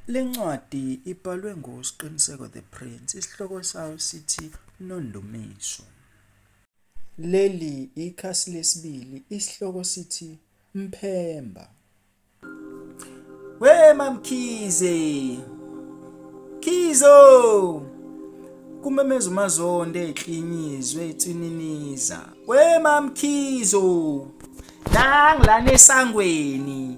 Le ncwadi ibhalwe nguSqiniseko the Prince, isihloko sayo sithi Nondumiso. Leli ikhasi lesibili, isihloko sithi Mphemba. We mamkhize Khizo kumemeza uMazonde eklinyizwe etsininiza we mamkhizo nangilana esangweni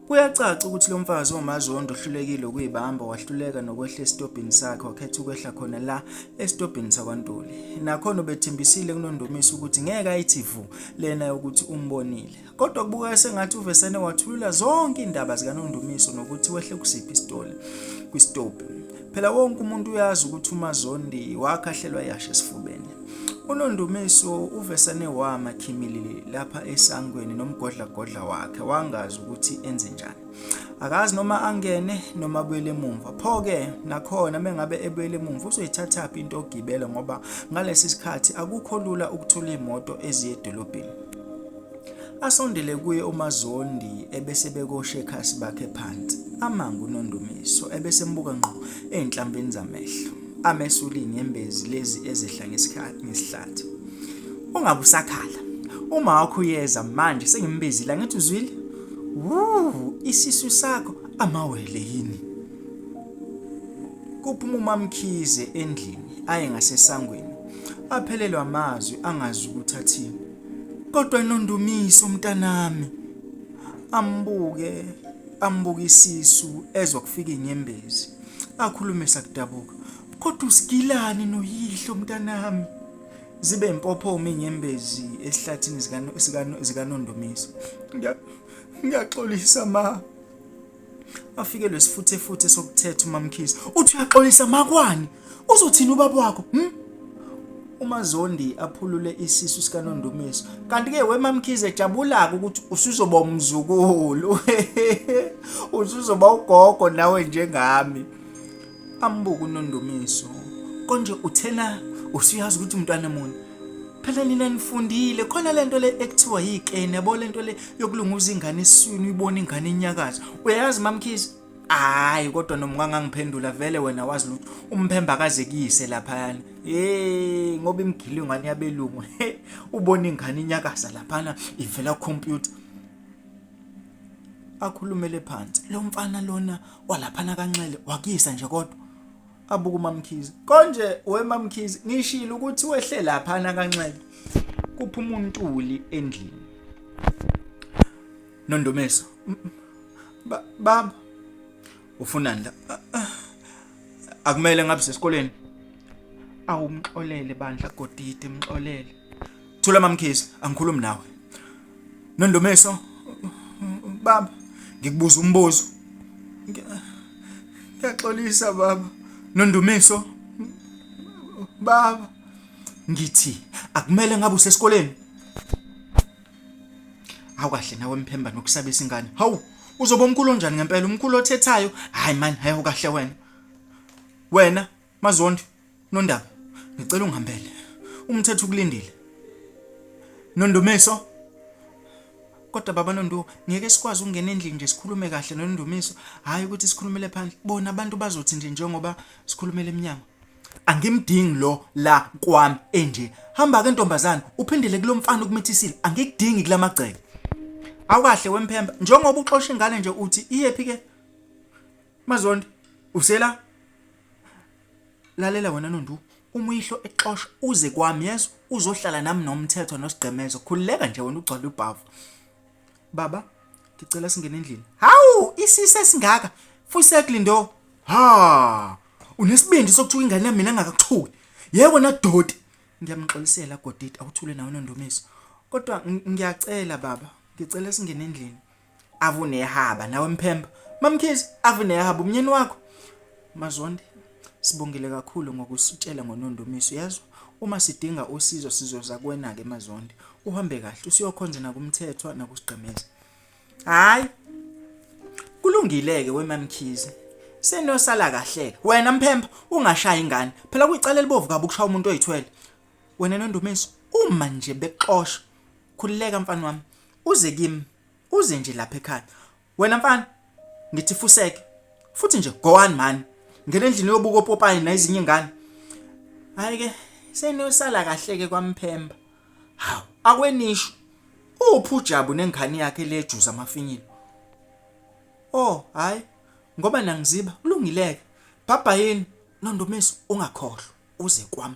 Kuyacaca ukuthi lo mfazi omazondo ohlulekile ukuyibamba wahluleka nokwehla esitobhini sakhe wakhetha ukwehla khona la esitobhini sakwaNtuli. Nakhona ubethembisile kunondumisa ukuthi ngeke ayithi vu lena yokuthi umbonile. Kodwa kubukeka sengathi uvesene wathulula zonke indaba zikaNondumiso nokuthi wehle kusiphi isitoli kwisitobhi. Phela wonke umuntu uyazi ukuthi uMazondi wakhahlelwa yashe esifubeni. UNondumiso uvesane wama khimilili lapha esangweni nomgodlagodla wakhe wangazi ukuthi enze njani. Akazi noma angene noma abuyele emumva. Pho-ke nakhona mengabe ebuyele emumva uzoyithathaphi into ogibela ngoba ngalesi sikhathi akukho lula ukuthola imoto eziye edolobheni. Asondele kuye uMaZondi ebese bekoshekhasi bakhe phansi. Amanga uNondumiso ebese embuka ngqo ezinhlambini zamehlo. Amesuli inyembezi lezi ezehla ngesikhathi ngesihlathi. Ungabe usakhala. Uma wakho uyeza manje sengimbizile angithi uzwile? Wuu, isisu sakho amawele yini? Kuphuma uMamkhize endlini aye ngasesangweni. Aphelelwa amazwi angazi ukuthi athini. Kodwa Nondumiso mntanami. Ambuke, ambuke isisu ezwa kufika inyembezi. Akhulume sakudabuka. Kodwa usigilani noyihlo mntanami. Zibe impophoma inyembezi esihlathini zika zika Nondumiso. Ngiyaxolisa ma. Bafikelwe sifuthefuthe sokuthetha uMamkhize. Uthi uyaxolisa makwani. Uzothini ubaba wakho? Hmm? uMazondi aphulule isisu sikaNondumiso kanti-ke wemamkhize ejabula-ke ukuthi usuzoba umzukulu usuzoba ugogo nawe njengami ambuka unondumiso konje uthena usuyazi ukuthi umntwana muni phela nina nifundile khona lento le ekuthiwa yikene yabo lento le yokulunguza ingane eswini uyibona ingane inyakaza uyayazi mamkhizi hayi kodwa noma ungangangiphendula vele wena wazi lutho umphemba akazekise laphayana hey ngoba imgile ingane yabelungu ubona ingane inyakaza laphana ivela computer akhulumele phansi lo mfana lona walaphana kanxele wakuyisa nje kodwa abuka umamkhize konje wemamkhize ngishilo ukuthi wehle laphana kanxele kuphuma untuli endlini nondomeso baba ufunani la Ah, ah. akumele ngabe sesikoleni awumxolele bandla godide mxolele thula mamkhisi angikhulumi nawe nondomeso baba ngikubuza umbuzo Ngiya- ngiyaxolisa baba nondumiso baba ngithi akumele ngabe usesikoleni Hawu kahle nawe mphemba nokusabisa ingane. Hawu uzoba umkhulu onjani ngempela umkhulu othethayo? Hayi man, hayo kahle wena. Wena mazondi nondaba ngicela ungihambele. Umthetho ukulindile. Nondumiso kodwa baba Nonduwo ngeke sikwazi ukungena endlini nje sikhulume kahle noNdumiso hayi ukuthi sikhulumele phandle bona abantu bazothi nje njengoba sikhulumele eminyango angimdingi lo la kwami enje hamba ke ntombazana uphindele kulomfana ukumithisile angikudingi kulamagceke awukahle wemphemba njengoba uxosha ingane nje uthi iyephi ke mazondi usela lalela wena nondu uma uyihlo exosha uze kwami yeso uzohlala nami nomthetho nosigqemezo khululeka nje wena ugcwala ubhavu baba ngicela singene endlini hawu isise singaka fusekli ndo ha unesibindi sokuthuka ingane yami mina ngakakuthuli yebo na doti ngiyamxolisela godidi awuthule nawe nondumiso kodwa ngiyacela baba ngicela singene endlini avunehaba nawe mphemba mamkhizi avunehaba umnyeni wakho mazondi Sibongile kakhulu ngokusitshela ngoNondumiso yazi uma sidinga usizo sizoza kuwena ke Mazondi uhambe kahle usiyokhonza nakumthethwa nakusigqemeza hayi kulungileke wemamkhize senosala kahle wena mphemba ungashaya ingane phela kuyicala elibovu kabi ukushaya umuntu oyithwele wena Nondumiso uma nje bexosha khulileka mfana wami uze kimi uze nje lapha ekhaya Wena mfana ngithi fuseke futhi nje go on man ngena endlini yobuka opopayi nezinye ingane hayi ke seniyosala kahle ke kwamphemba hawu akwenisho uphi ujabu nengane yakhe lejuza amafinyilo oh hayi ngoba nangiziba kulungileke bhabha yini nondomeso ungakhohlwa uze kwami